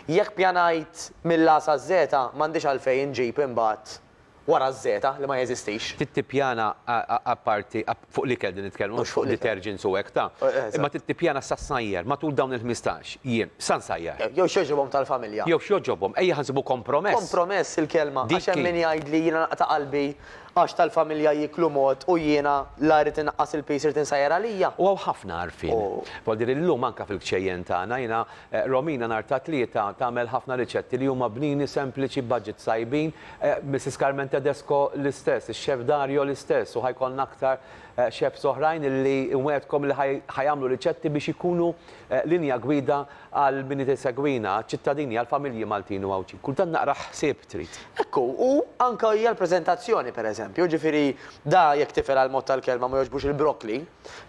Jekk pjanajt mill-A saz-Z, m'għandix għalfejn inġib imbagħad wara z-Z li ma jeżistix. Trid tippjana apparti, fuq l-ikel qegħdin nitkellmu mhux fuq detergents u hekk ta. Imma trid tippjana x'sajjar matul dawn il-ħmistax jiem, x'nsajjar. Jew x'jogħġobhom tal-familja. Jew x'jogħġobhom, ejja ħa nsibu kompromess. Kompromess il-kelma, għax hemm min jgħidli jiena naqta' qalbi għax tal-familja jieklu mod u jiena la rrid innaqqas il-piż irid insajjar għalija. U hawn ħafna għarfien. Vuol dire li llum anke fil-kċejjen tagħna jiena Romina nhar ta' Tlieta tagħmel ħafna riċetti li huma bnini, sempliċi, b'budgets tajbin. Missis Carmen Tedesco l-istess, ix-Chef Dario l-istess u ħa jkollna aktar chefs oħrajn illi nwegħedkom li ħa jagħmlu riċetti biex ikunu linja gwida għal min qed isegwina, għaċ-ċittadini, għall-familji Maltin u Għawdxin. Kultant naqra ħsieb trid. Hekk hu, u anke hija l-preżentazzjoni pereżempju, jiġifieri da jekk tifel għall-mod tal-kelma ma jogħġbux il-broccoli,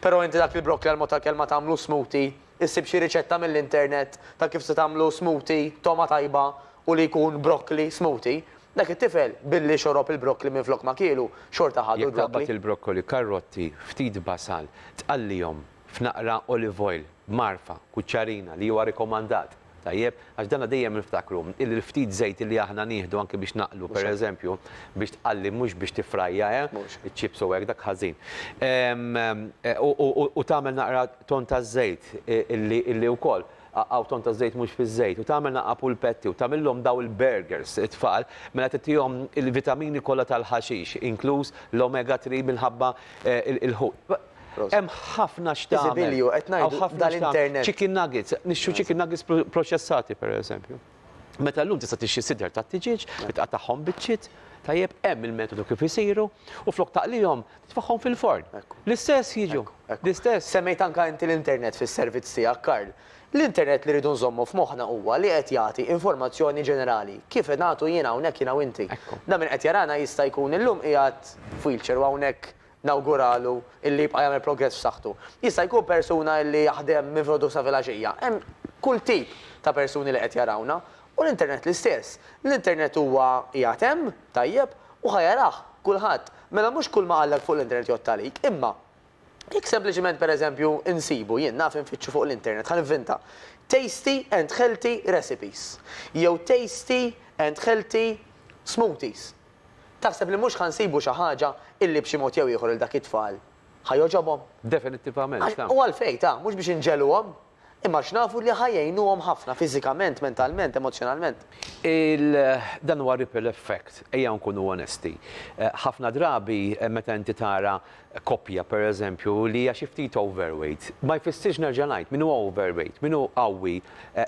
però inti dak il-broccoli għall-mod tal-kelma tagħmlu smoothie Issib xi riċetta mill-internet ta' kif se tagħmlu smoothie t'togħma tajba u li jkun broccoli smoothie. Dak it-tifel, billi xorob il-broccoli minflok ma kielu, xorta ħadu Jekk l-broccoli. taqbad il-broccoli, karrotti, ftit basal, tqallihom f'naqra olive oil b'mgħarfa, kuċċarina, li huwa rikomandat. Tajjeb, għax danha dejjem niftakru, illi l-ftit żejt illi aħna nieħdu anke biex naqlu, per eżempju, biex tqalli mhux biex tiffrajja, eh, iċ-chips u hekk, dak ħażin. U tagħmel naqra ton ta' żejt illi wkoll, hawn ton ta' żejt mhux fiż-żejt, u tagħmel naqra pulpetti u tagħmilhom dawn il-burgers it-tfal, mela titihom il-vitamini kollha tal-ħaxix, inkluż l-omega 3 minħabba l-ħut. Hemm ħafna x'tagħmel. Hawn ħafna x'tagħmel. Chicken nuggets, nixtru chicken nuggets proċessati pereżempju. Meta llum tista' tixtri sidra tat-tiġieġ, titqattagħhom biċċiet, tajjeb, hemm il-metodu kif isiru, u flok taqlihom, titfagħhom fil-forn. L-istess jiġu. L-istess. Semmejt anke inti l-internet fis-servizz tiegħek, Karl. L-internet li rridu nżommu f'moħħna huwa li qed jagħti informazzjoni ġenerali, kif qed nagħtu jiena hawnhekk, jiena u inti. Dan min qed jarana jista' jkun illum qiegħed f'wheelchair u hawnhekk nawguralu illi jibqa' jagħmel progress f'saħħtu. Jista' jkun persuna illi jaħdem minn filgħodu sa filgħaxija. Hemm kull tip ta' persuni li qed jarawna. U l-internet l-istess. L-internet huwa qiegħed hemm, tajjeb, u ħa jarah kulħadd. Mela mhux kulma qalek fuq l-internet jgħodd għalik. Imma jekk sempliċiment per eżempju insibu, jien naf infittxu fuq l-internet, ħa nivvinta, tasty and healthy recipes jew tasty and healthy smoothies. Taħseb li mhux ħa nsibu xi ħaġa illi b'xi mod jew ieħor 'il dak it-tfal ħa jogħġobhom? Definittivament, Għax, ta. u għalfejn, ta, mhux biex inġegħluhom, imma għax nafu li ħa jgħinuhom ħafna fiżikament, mentalment, emozzjonalment. Il, dan huwa ripple effect, ejja nkunu onesti. Ħafna drabi meta inti tara koppja, per eżempju, li hija xi ftit overweight, ma jfissirx, nerġa' ngħid, min hu overweight, min hu qawwi,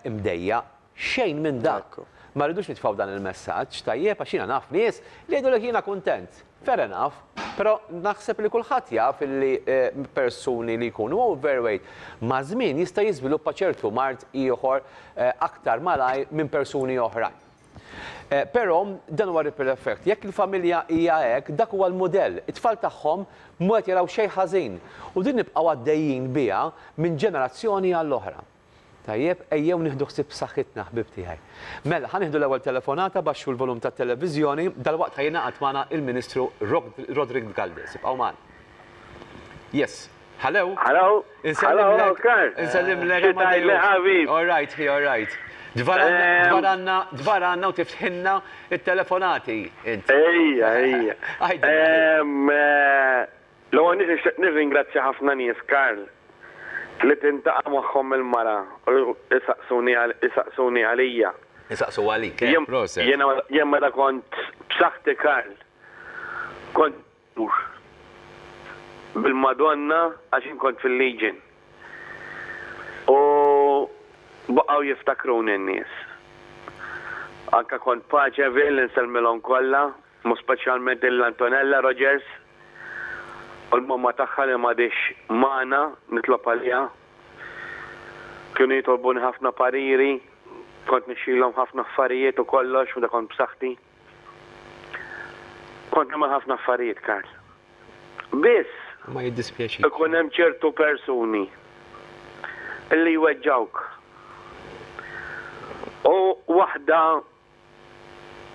imdejjaq, Xejn minn dak. Ma rridux nitfgħu dan il-messaġġ, tajjeb, għax jiena naf nies li jgħidulek jiena kuntent. Fair enough. Però naħseb li kulħadd jaf illi persuni li jkunu overweight maż-żmien jista' jiżviluppa ċertu mard ieħor aktar malajr minn persuni oħrajn. Però dan huwa ripple effect. Jekk il-familja hija hekk, dak huwa l-mudell. It-tfal tagħhom mhu qed jaraw xejn ħażin. U din nibqgħu għaddejjin biha minn ġenerazzjoni għall-oħra. Tajjeb, ejjew nieħdu ħsieb b'saħħitna, ħbieb tiegħi. Mela, ħa nieħdu l-ewwel telefonata, baxxu l-volum tat-televiżjoni, dalwaqt ħa jingħaqad magħna il-Ministru Roderick Galdes. Ibqgħu magħna. Yes. Hello? Hello? Insellimlek. Insellimlek. Insellimlek. Insellimlek. All right, he, all right. Dvaranna, dvaranna u tiftħinna il-telefonati. Ejja, ejja. L-ewwel nett nixtieq nirringrazzja ħafna nies, Karl, li tintaqa' magħhom il-mara u jsaqsuni jsaqsuni għalija. Isaqsu għalik, eh! Proset! Jiena jien meta kont b'saħħti, Karl, kont idur bil-Madonna għax jien kont fil-Legion. U baqgħu jiftakruni n-nies. Anke kont Paċevil, insellmilhom kollha. Mhu speċjalment lil Antonella Rogers u l-momma tagħha li m'għadhiex magħna, nitlob għaliha. Kienu jitolbuni ħafna pariri, kont nixxilhom ħafna affarijiet u kollox meta kont b'saħħti. Kont nagħmel ħafna affarijiet, Karl. Biss. Ma jiddispjaċikx. Ikun hemm ċertu persuni li jweġġgħuk. U waħda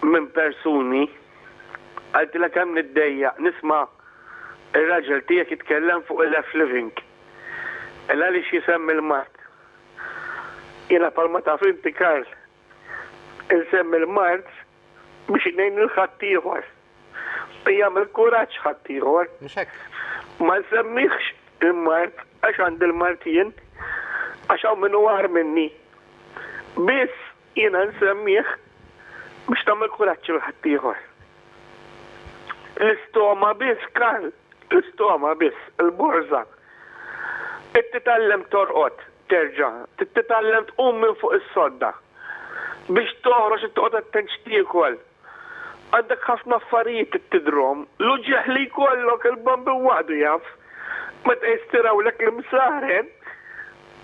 minn persuni, għidtilha kemm niddejjaq nisma' r-raġel tiegħek jitkellem fuq il-F living, il għaliex jisemmi l-mard. Jiena bħalma taf inti Karl, insemmi l-mard biex ngħin lil ħaddieħor jagħmel kuraġġ ħaddieħor. Mhux hekk? Ma nsemmihx il-mard għax għandi l-mard jien, għax hawn min hu agħar minni. Biss Jiena nsemmih biex tagħmel kuraġġ lil ħaddieħor. L-istoma biss, Karl, l-istoma biss, il-borża. Trid titgħallem torqod terġa', trid titgħallem tqum minn fuq is-sodda. Biex toħroġ trid toqgħod attent x'tiekol. Għandek ħafna affarijiet trid tidhrom. L-uġigħ li jkollok, il-bambin waħdu jaf. Meta jistirawlek l-imsaren,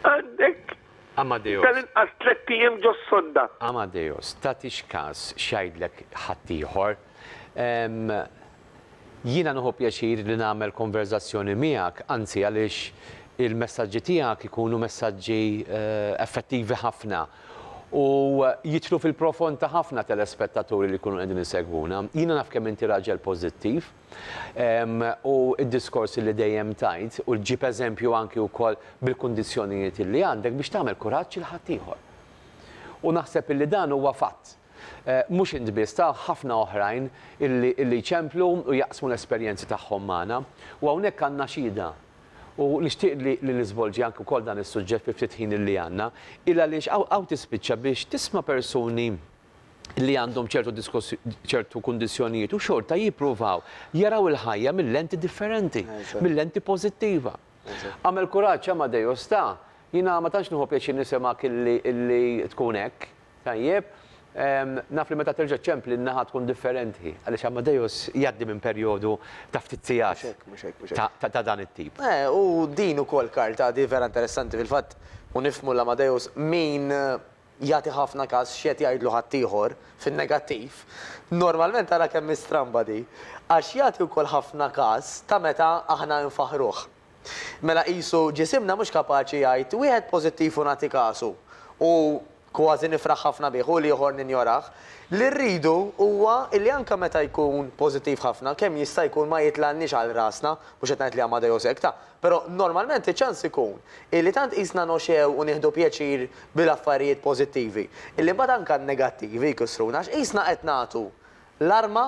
għandek Amadeus. Tal-inqas tlett ijiem ġos-sonda. Amadeus, Tagħtix kas x'jgħidlek ħaddieħor. Ehm, jiena nieħu pjaċir li nagħmel konverżazzjoni miegħek, anzi għaliex il-messaġġi tiegħek ikunu messaġġi effettivi ħafna u jidħlu fil-profond ta' ħafna telespettaturi li jkunu qegħdin isegwuna. Jiena naf kemm inti raġel pożittiv. U d-diskors li dejjem tgħid u ġġib eżempju anki wkoll bil-kundizzjonijiet illi għandek biex tagħmel kuraġġ lil ħaddieħor. U naħseb illi dan huwa fatt. Mhux int biss, ta' ħafna oħrajn illi illi jċemplu u jaqsmu l-esperjenzi tagħhom magħna. U hawnhekk għandna xhieda. U nixtieq li li niżvolġi anki wkoll dan is-suġġett fil-ftit ħin illi għandna. Il għaliex hawn hawn tispiċċa biex tisma' persuni li għandhom ċertu ċertu kundizzjonijiet u xorta jippruvaw jaraw il-ħajja mill-lenti differenti, mill-lenti pożittiva. Għamel kuraġġ Amadeus ta' jiena ma tantx nieħu pjaċir nisimgħek illi tkun hekk, tajjeb, naf li meta terġa' ċempli n-naħa tkun differenti. Għaliex Amadeus jgħaddi minn perjodu ta' ftit sigħat ta' dan it-tip. U din ukoll Karl tagħti vera interessanti fil-fatt u nifhmu l-Amadeus min Jagħti ħafna kas x'qed jgħidlu ħaddieħor, fin-negattiv. Normalment ara kemm hi stramba di. Għax jagħti wkoll ħafna kas ta' meta aħna infaħħruh. Mela qisu ġisimna mhux kapaċi jgħid wieħed pożittiv u nagħti kasu, u kważi nifraħ ħafna bih, u l-ieħor ninjorah. Li rridu huwa li anke meta jkun pożittiv ħafna, kemm jista' jkun ma jitlgħalniex għal rasna, mhux qed ngħid li Amadeus hekk ta, Però normalment iċ-ċans ikun illi tant qisna noxegħu u nieħdu pjaċir bil-affarijiet pożittivi, illi mbagħad anke n-negattivi jkissruna għax qisna qed nagħtu l-arma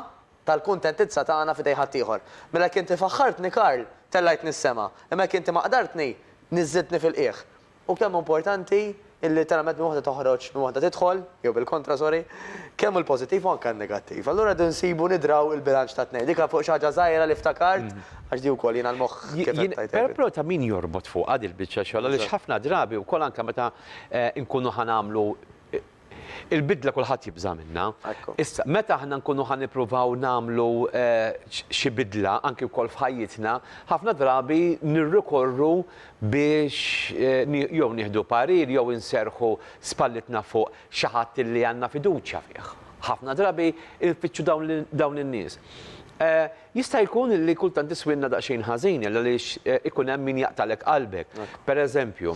tal-kuntentizza tagħna f'idej ħaddieħor. Mela jekk inti faħħartni Karl, tellgħajtni s-sema, imma jekk inti maqdartni, niżżiltni fil-qiegħ. U kemm hu importanti illi literalment minn waħda toħroġ, minn waħda tidħol, jew bil-kontra sorry, kemm hu l-pożittiv hu anke n-negattiv. Allura rridu nsibu nidraw il-bilanċ tat-tnejn. Dik fuq xi ħaġa żgħira li ftakart, għax di wkoll jiena l-moħħ kif qed tgħid int. Però ta' min jorbot fuqha dil-biċċa xogħol għaliex ħafna drabi wkoll anke meta nkunu ħa nagħmlu Il-bidla kulħadd jibża' minnha. Issa, meta aħna nkunu ħa nippruvaw nagħmlu xi bidla, anki wkoll f'ħajjitna, ħafna drabi nirrikorru biex jew nieħdu parir jew inserrħu spallitna fuq xi ħadd illi għandna fiduċja fih. Ħafna drabi nfittxu dawn in-nies. Jista' jkun illi kultant iswielna daqsxejn ħażin għaliex ikun hemm min jaqtagħlek qalbek. Pereżempju,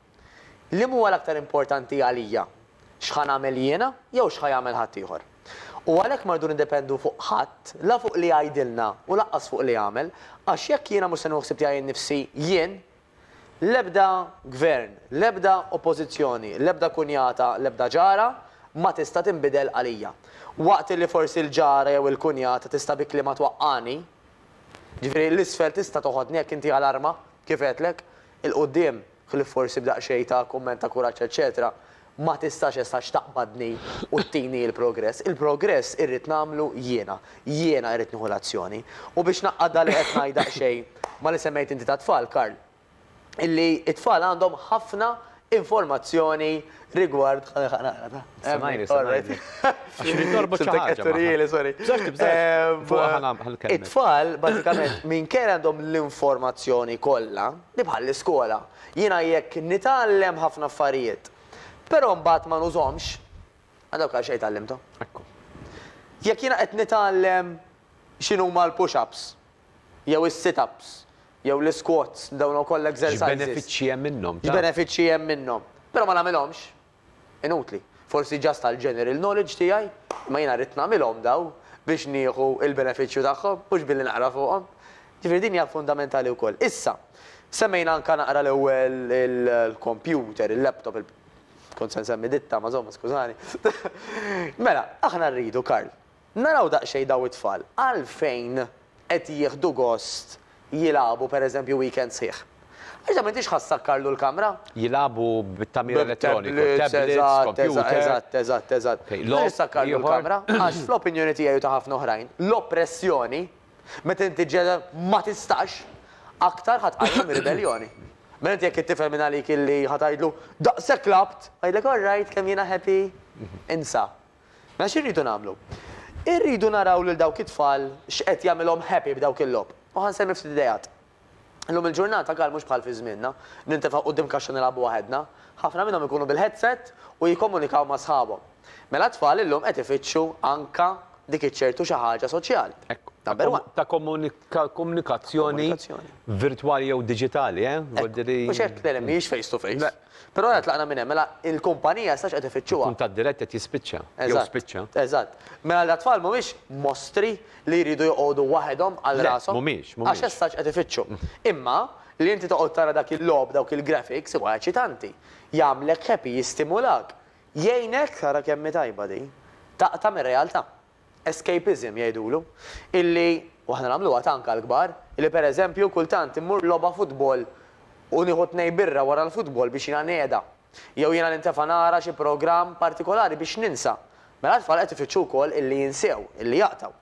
Liema huwa l-aktar importanti għalija, x'ħa nagħmel jiena jew x'ħa jagħmel ħaddieħor? U għalhekk ma rridu niddependu fuq ħadd, la fuq li jgħidilna u lanqas fuq li jagħmel, għax jekk jiena mhux se nieħu ħsieb tiegħi nnifsi, jien, l-ebda gvern, l-ebda oppożizzjoni, l-ebda kunjata, l-ebda ġara ma tista' tinbidel għalija. Waqt li forsi l-ġara jew il-kunjata tista' bi kliemha twaqqagħni, jiġifieri l-isfel tista' toħodni jekk inti għal arma, kif għedtlek, 'il quddiem, ħlief forsi b'daqsxejn ta' kumment ta' kuraġġ eċċetera, ma tistax essax taqbadni u tini l-progress. Il-progress irrid nagħmlu jiena. Jiena irrid nieħu l-azzjoni. U biex ngħaqqad dak li qed ngħid daqsxejn ma' li semmejt inti tat-tfal, Karl, illi t-tfal għandhom ħafna informazzjoni rigward it-tfal bażikament minkejja li għandhom l-informazzjoni kollha, hi bħall-iskola. Jiena jekk nitgħallem ħafna affarijiet, però mbagħad ma nużhomx, għal dawk għal xejn tgħallimthom. Jekk jiena qed nitgħallem x'inhuma l-push-ups jew is-sit-ups Jew l-isquats, dawn ukoll exercises. X'benefiċċji hemm minnhom, taf? X'benefiċċji hemm minnhom. Però ma nagħmilhomx. Inutli. Forsi just għall-general knowledge tiegħi, imma jiena rrid nagħmilhom dawn biex nieħu l-benefiċċju tagħhom, mhux billi naqra fuqhom. Jiġifieri din hija fundamentali wkoll. Issa, semmejna anke naqra l-ewwel il-kompjuter, il-laptop, il. Kont se nsemmi ditta, ma żomma, skużani. Mela, aħna rridu, Karl, Naraw daqsxejn dawn it-tfal għalfejn qed jieħdu gost jilagħbu pereżempju weekend sħiħ. Għax dan m'intix ħa ssakkarlu l-kamra? Jilagħbu bit-tagħmir elettroniku, tablets, computer. Eżatt, eżatt, eżatt, eżatt. Logħob ieħor. M'intix ħa ssakkarlu l-kamra għax fl-opinjoni tiegħi u ta' ħafna oħrajn, l-oppressjoni, meta inti ġġegħel ma tistax, aktar ħa tqajjem ir-ribelljoni. Mela inti jekk it-tifel minn għalik illi ħa tgħidlu, daqshekk lagħbt! Jgħidlek, all right, kemm jiena happy? Insa. Mela x'irridu nagħmlu? Irridu naraw lil dawk it-tfal x'qed jagħmilhom happy b'dawk il-logħob. U ħa nsemmi ftit ideat. Illum il-ġurnata Karl mhux bħal fi żmienna, nintefgħu quddiem kaxxa nilgħabu waħedna. Ħafna minnhom ikunu bil-headset u jikkomunikaw ma' sħabhom. Mela t-tfal illum qed ifittxu anka dik iċ-ċertu xi ħaġa soċjali. Number one. Ta' komunikazzjoni virtwali jew diġitali, eh? Mhux hekk, le le, mhijiex face to face. Però ora tlaqna minn hemm, mela il-kumpanija issa x'qed ifittxuha? Kuntatt dirett qed jispiċċa, jew spiċċa. Eżatt, eżatt. Mela l-atfal mhumiex mostri li jridu joqogħdu waħedhom għal rashom. Le, mhumiex, mhumiex. Għax issa x'qed ifittxu. Imma li inti toqgħod tara dak il-logħob, dawk il-graphics, huwa eċitanti. Jagħmlek happy, jistimulak. Jgħinek, ara kemm hi tajba din, taqta' mir-realtà. escapism jgħidulu, illi, u aħna nagħmluha tant għall-kbar, illi per eżempju kultant immur logħba futbol u nieħu tnejn birra wara l-futbol biex jiena ngħeda, jew jiena nintefa' nara xi programm partikolari biex ninsa. Mela t-tfal qed ifittxu wkoll illi jinsew, illi jaqtgħu.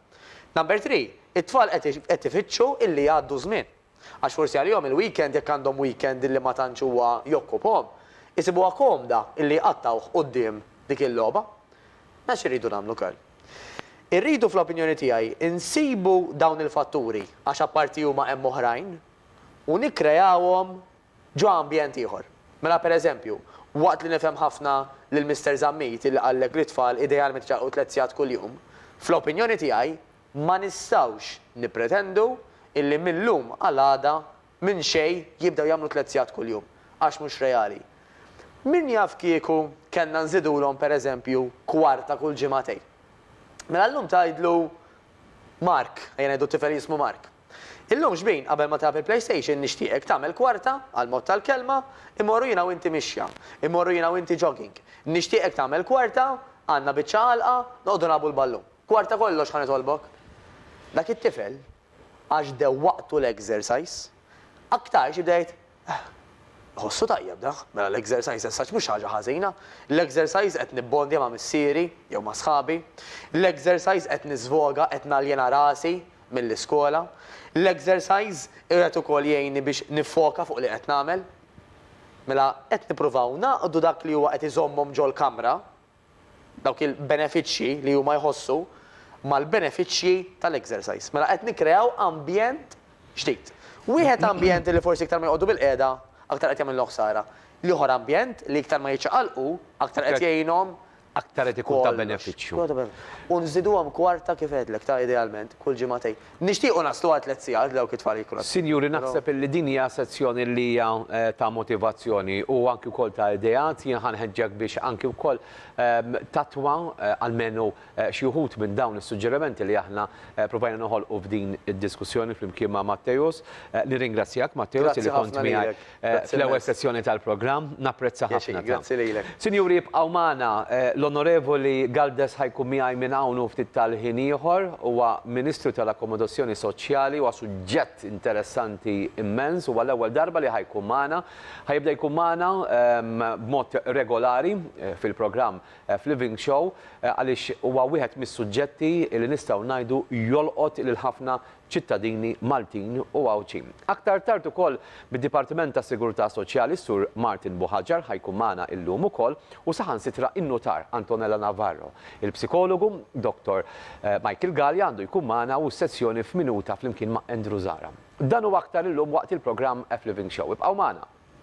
Number three, it-tfal qed ifittxu illi jgħaddu ż-żmien. Għax forsi għalihom il-weekend, jekk għandhom weekend illi ma tantx huwa jokkupahom, isibuha komda illi jqattgħuh quddiem dik il-logħba. Mela x'irridu nagħmlu kal? Irridu fl-opinjoni tiegħi nsibu dawn il-fatturi, għax apparti huma hemm oħrajn, u nikkreawhom ġo ambjent ieħor. Mela pereżempju, waqt li nifhem ħafna lil Mister Zammit illi qallek li t-tfal idealment iċarrqu tliet sigħat kuljum, fl-opinjoni tiegħi Ma nistgħux nippretendu illi mil-lum għal għada minn xejn jibdew jagħmlu tliet sigħat kuljum, għax mhux reali. Min jaf kieku kellna nżidulhom per eżempju kwarta kull ġimagħtejn. Mela llum tgħidlu Mark, ejja ngħidu t-tifel jismu Mark. Illum xbin qabel ma tilgħab il-playstation nixtieqek tagħmel kwarta, għall-mod tal-kelma, immorru jiena u inti mixja, immorru jiena u inti jogging. Nixtieqek tagħmel kwarta, għandna biċċa għalqa, noqogħdu nilgħabu l-ballun. Dwar ta' kollox ħa nitolbok, dak it-tifel, għax dewwaqtu l-exercise, aktarx jibda jgħid, Eħ, iħossu tajjeb dak, mela l-exercise as such mhux ħaġa ħażina, l-exercise qed nibbondja ma' missieri jew ma' sħabi, l-exercise qed niżvoga, qed naljena rasi mill-iskola, l-exercise qiegħed ukoll jgħinni biex niffoka fuq li qed nagħmel. Mela qed nippruvaw nagħqdu dak li huwa qed iżommhom ġol-kamra dawk il-benefiċċji li huma jħossu mal-benefiċċji tal-exercise. Mela qed nikkreaw ambjent ġdid. Wieħed ambjent li forsi iktar ma joqogħdu bil-qiegħda, aktar qed jagħmillu ħsara. L-ieħor ambjent li iktar ma jiċċaqalqu, aktar qed jgħinhom. Aktar qed ikun ta' benefiċċju. U nżiduhom kwarta kif għedlek ta' idealment, kull ġimagħtejn. Nixtiequ naslu għal tliet sigħat b'dawk it-tfal jikru. Sinjuri, naħseb illi din hija sezzjoni li hija ta' motivazzjoni u anki wkoll ta' ideat. Jien ħa nħeġġek biex anki wkoll tattwa almenu xi wħud minn dawn is-suġġerimenti li aħna provajna noħolqu f'din id-diskussjoni flimkien ma' Matteus. Nirringrazzjak, Matteus, li kont miegħi fl-ewwel sessjoni tal-programm. Napprezza ħafna dan. Grazzi lilek. Sinjuri ibqgħu magħna, l-Onorevoli Galdes ħa jkun miegħi minn hawn u ftit tal-ħin ieħor. Huwa Ministru tal-Akkomodazzjoni Soċjali, huwa suġġett interessanti immens, huwa l-ewwel darba li ħa jkun magħna. Ħa jibda jkun magħna b'mod regolari fil-programm f'Living Show għaliex huwa wieħed mis-suġġetti li nistgħu ngħidu jolqot lil ħafna ċittadini Maltin u Għawdxin. Aktar tard ukoll mid-Dipartiment tas-Sigurtà Soċjali s-Sur Martin Buhaġar ħa jkun magħna illum ukoll u saħansitra in-Nutar Antonella Navarro, il-Psikologu Dottor Michael Galea għandu jkun magħna u s-sezzjoni f'Minuta flimkien ma' Andrew Zahra. Dan u aktar illum waqt il-programm F-Living Show. Ibqgħu magħna!